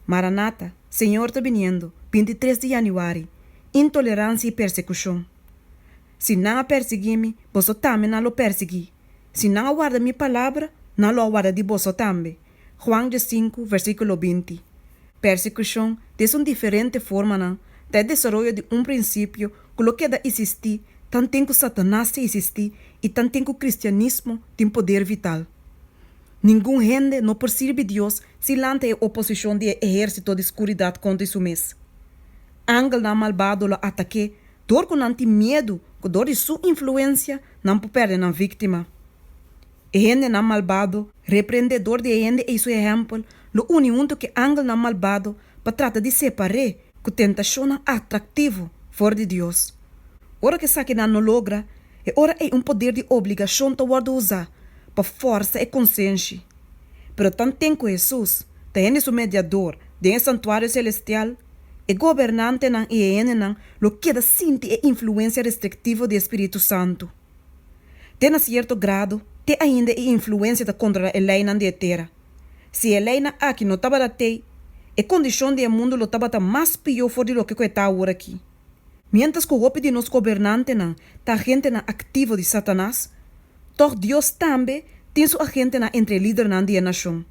Maranata, Señor ta biniendo, binti tres di Januari, Intoleransia i persekushon. Si nan a persiguí mi, boso tambe nan lo persiguí. Si nan a warda mi palabra, nan lo a warda di boso tambe. Juan de sinku, versíkulo binti. Persekushon, den su diferente formanan, ta e desaroyo di un prinsipio ku lo keda isistí tanten ku Satanas ta isistí i tanten ku kristianismo tin poder vital. Ningun hende no por sirbi Dios si nan ta e oposishon di e ehérsito di skuridat kontra i su mes. Angelnan malbado lo atak'é dor ku nan tin miedu ku dor di su influensia nan por pèrdè nan víktima. E hendenan malbado, reprendedor di e hende ei su ehèmpel, lo uni huntu ku e angelnan malbado pa trata di separ'é ku tentashonnan atraktivo for di Dios. Ora ku esakinan no logra, e ora ei un poder di obligashon ta wòrdu usá pa fòrsa e konsenshi. Pero tanten ku Hesus ta hende su Mediador den e santuario selestial, e gobernantenan i e hendenan lo keda sinti e influensia restriktivo di e spiritu santu. Te na sierto grado, te ainda e influensia ta kontrolá e leinan di e tera. Si e leinan aki no tabata t'ey, e kondishon di e mundu lo tabata mas pió for di loke ku e ta awor aki. Miéntras ku hopi di nos gobernantenan ta agentenan aktivo di Satanas, tòg Dios tambe tin su agentenan entre e lidernan di e nashon.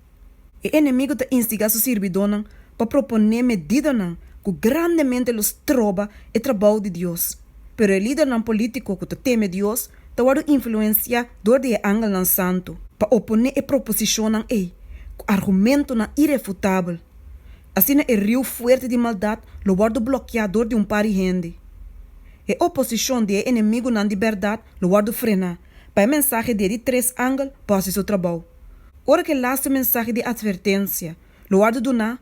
E enemigu ta instigá su sirbidónan pa proponé medidanan ku grandemente lo stroba e trabou di Dios. Pero e lidernan polítiko ku ta teme Dios ta wòrdu influensiá dor di e angelnan santu pa oponé e proposishonnan ei ku argumentunan irefutabel. Asina e riu fuerte di maldat lo wòrdu blokiá dor di un par di hende. E oposishon di e enemigunan di bèrdat lo wòrdu frená pa e mensahe di e di tres angel por hasi su trabou. Ora ku e laste mensahe di atvertensia lo wòrdu duná,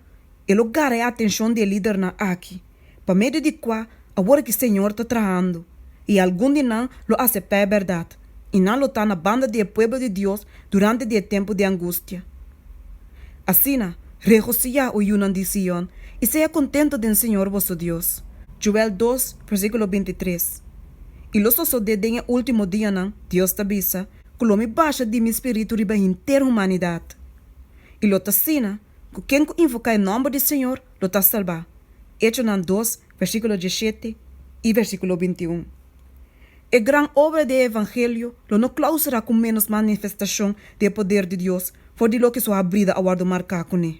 e lo gara e atenshon di e lidernan aki. Pa medio di kua, awor aki Señor ta trahando, i algun di nan lo aseptá e bèrdat, i nan lo ta na banda di e pueblo di Dios durante di e tempu di angustia. Asina, regosiyá, o yunan di Sion, i sea kontentu den Señor boso Dios. Joel dos, versíkulo binti tres, I lo sosodé den e último dianan, Dios ta bisa, ku lo mi basha di mi Spiritu riba henter humanidat. I lo ta asina, ku ken ku invoká e nòmber di Señor lo ta salbá, Echonan dos, versíkulo dieshete i versíkulo bintiun. E gran obra di e evangelio lo no klausurá ku ménos manifestashon di e poder di Dios for di loke su habrida a wòrdu marká kuné.